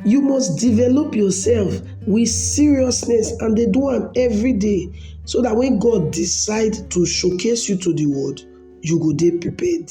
You must develop yourself with seriousness and dey do am every day so that when God decide to showcase you to the world, you go dey prepared.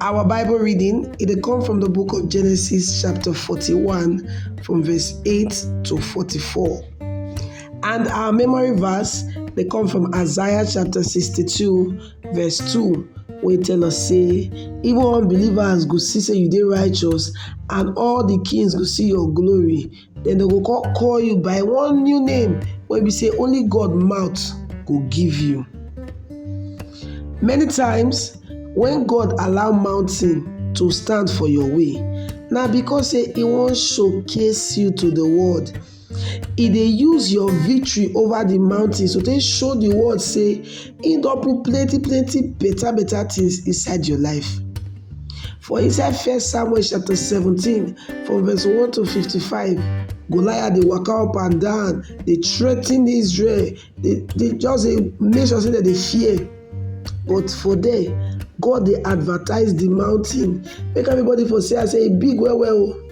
Our Bible reading it dey come from the book of Genesis chapter 41 from verse 8 to 44. And our memory verse they come from Isaiah chapter 62 verse 2 We tell us say even unbelievers go see say you dey righteous and all the kings go see your glory den dem go kon call you by one new name wey be sey only God mouth go give you. Many times wen God allow mountain to stand for your way na because sey e wan show case you to di world, e dey use your victory over di mountain to take show di world sey. He don put plenty plenty better better things inside your life. For inside First Samuel chapter 17 from verse 1 to 55, Goliath dey waka up and down, dey threaten Israel, dey dey just dey make sure say dem dey fear. But for there, God dey advertise the mountain, make everybody for see am say e big well well o.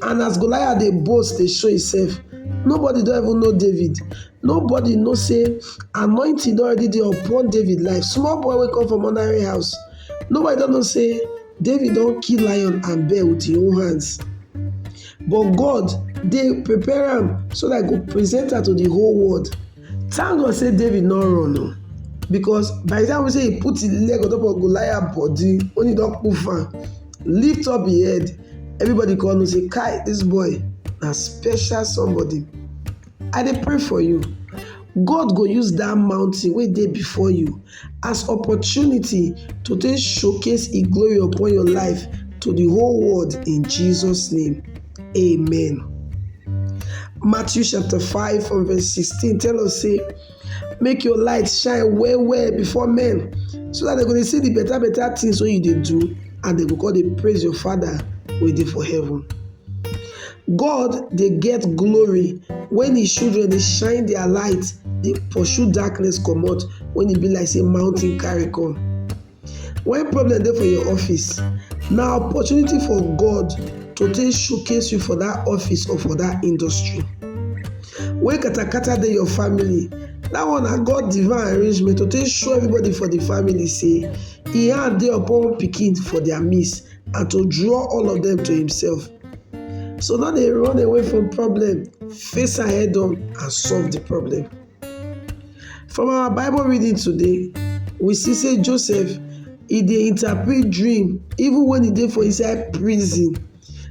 And as Goliath dey boast, dey show himself, nobody don even know David. Nobody know say anointing don already dey upon David life. Small boy wey come from ordinary house. Nobody don know say David don kill lion and bear with him own hands. But God dey prepare am so that I go present am to the whole world. Thank God say David no run o. Because by the time we say he put his leg on top of Goliath body, when he don poof am, lift up him head, everybody come know say kai this boy na special somebody. I dey pray for you, God go use dat mountain wey dey before you as opportunity to take showcase im glory upon your life to the whole world in Jesus name, amen. Matthew chapter 5 from verse 16 tell us say. make your light shine well well before men so that they go dey see the better better things wey you dey do and they go come dey praise your father wey dey for heaven. God dey get glory when his children dey shine their light dey pursue darkness comot when e be like say mountain carry come. When problem dey for your office, na opportunity for God to take showcase you for that office or for that industry. When katakata dey your family, that one na God divine arrangement to take show everybody for the family say He hand dey upon pikin for their midst and to draw all of them to Himself. So no dey run away from problem, face am head on and solve the problem. From our bible reading today, we see sey Joseph e dey interpret dream even wen e dey for inside prison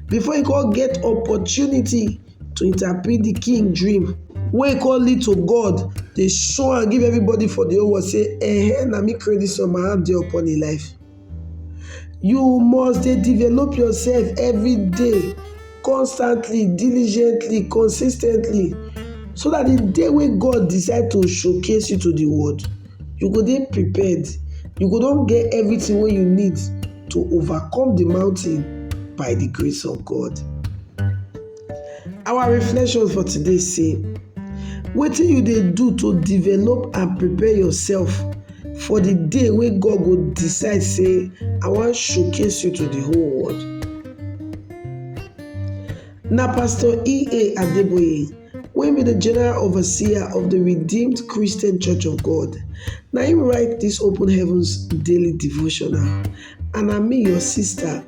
before e come get opportunity to interpret de king dream wey come lead to God dey show am give everybody for de whole world sey um na me create dis one my hand dey upon im life. You must dey develop yourself every day, constantly, diligently, consis ten tly so dat de day wey God decide to showcase you to de world, you go dey prepared, you go don get everything wey you need to overcome de mountain by de grace of God. Our reflection for today say, wetin you dey do to develop and prepare yourself for the day wey God go decide say I wan showcase you to the whole world. Na Pastor E.A. Adeboye wey be the general overseer of the Redeemed Christian Church of God na him write this open heavens daily devotional and na me your sister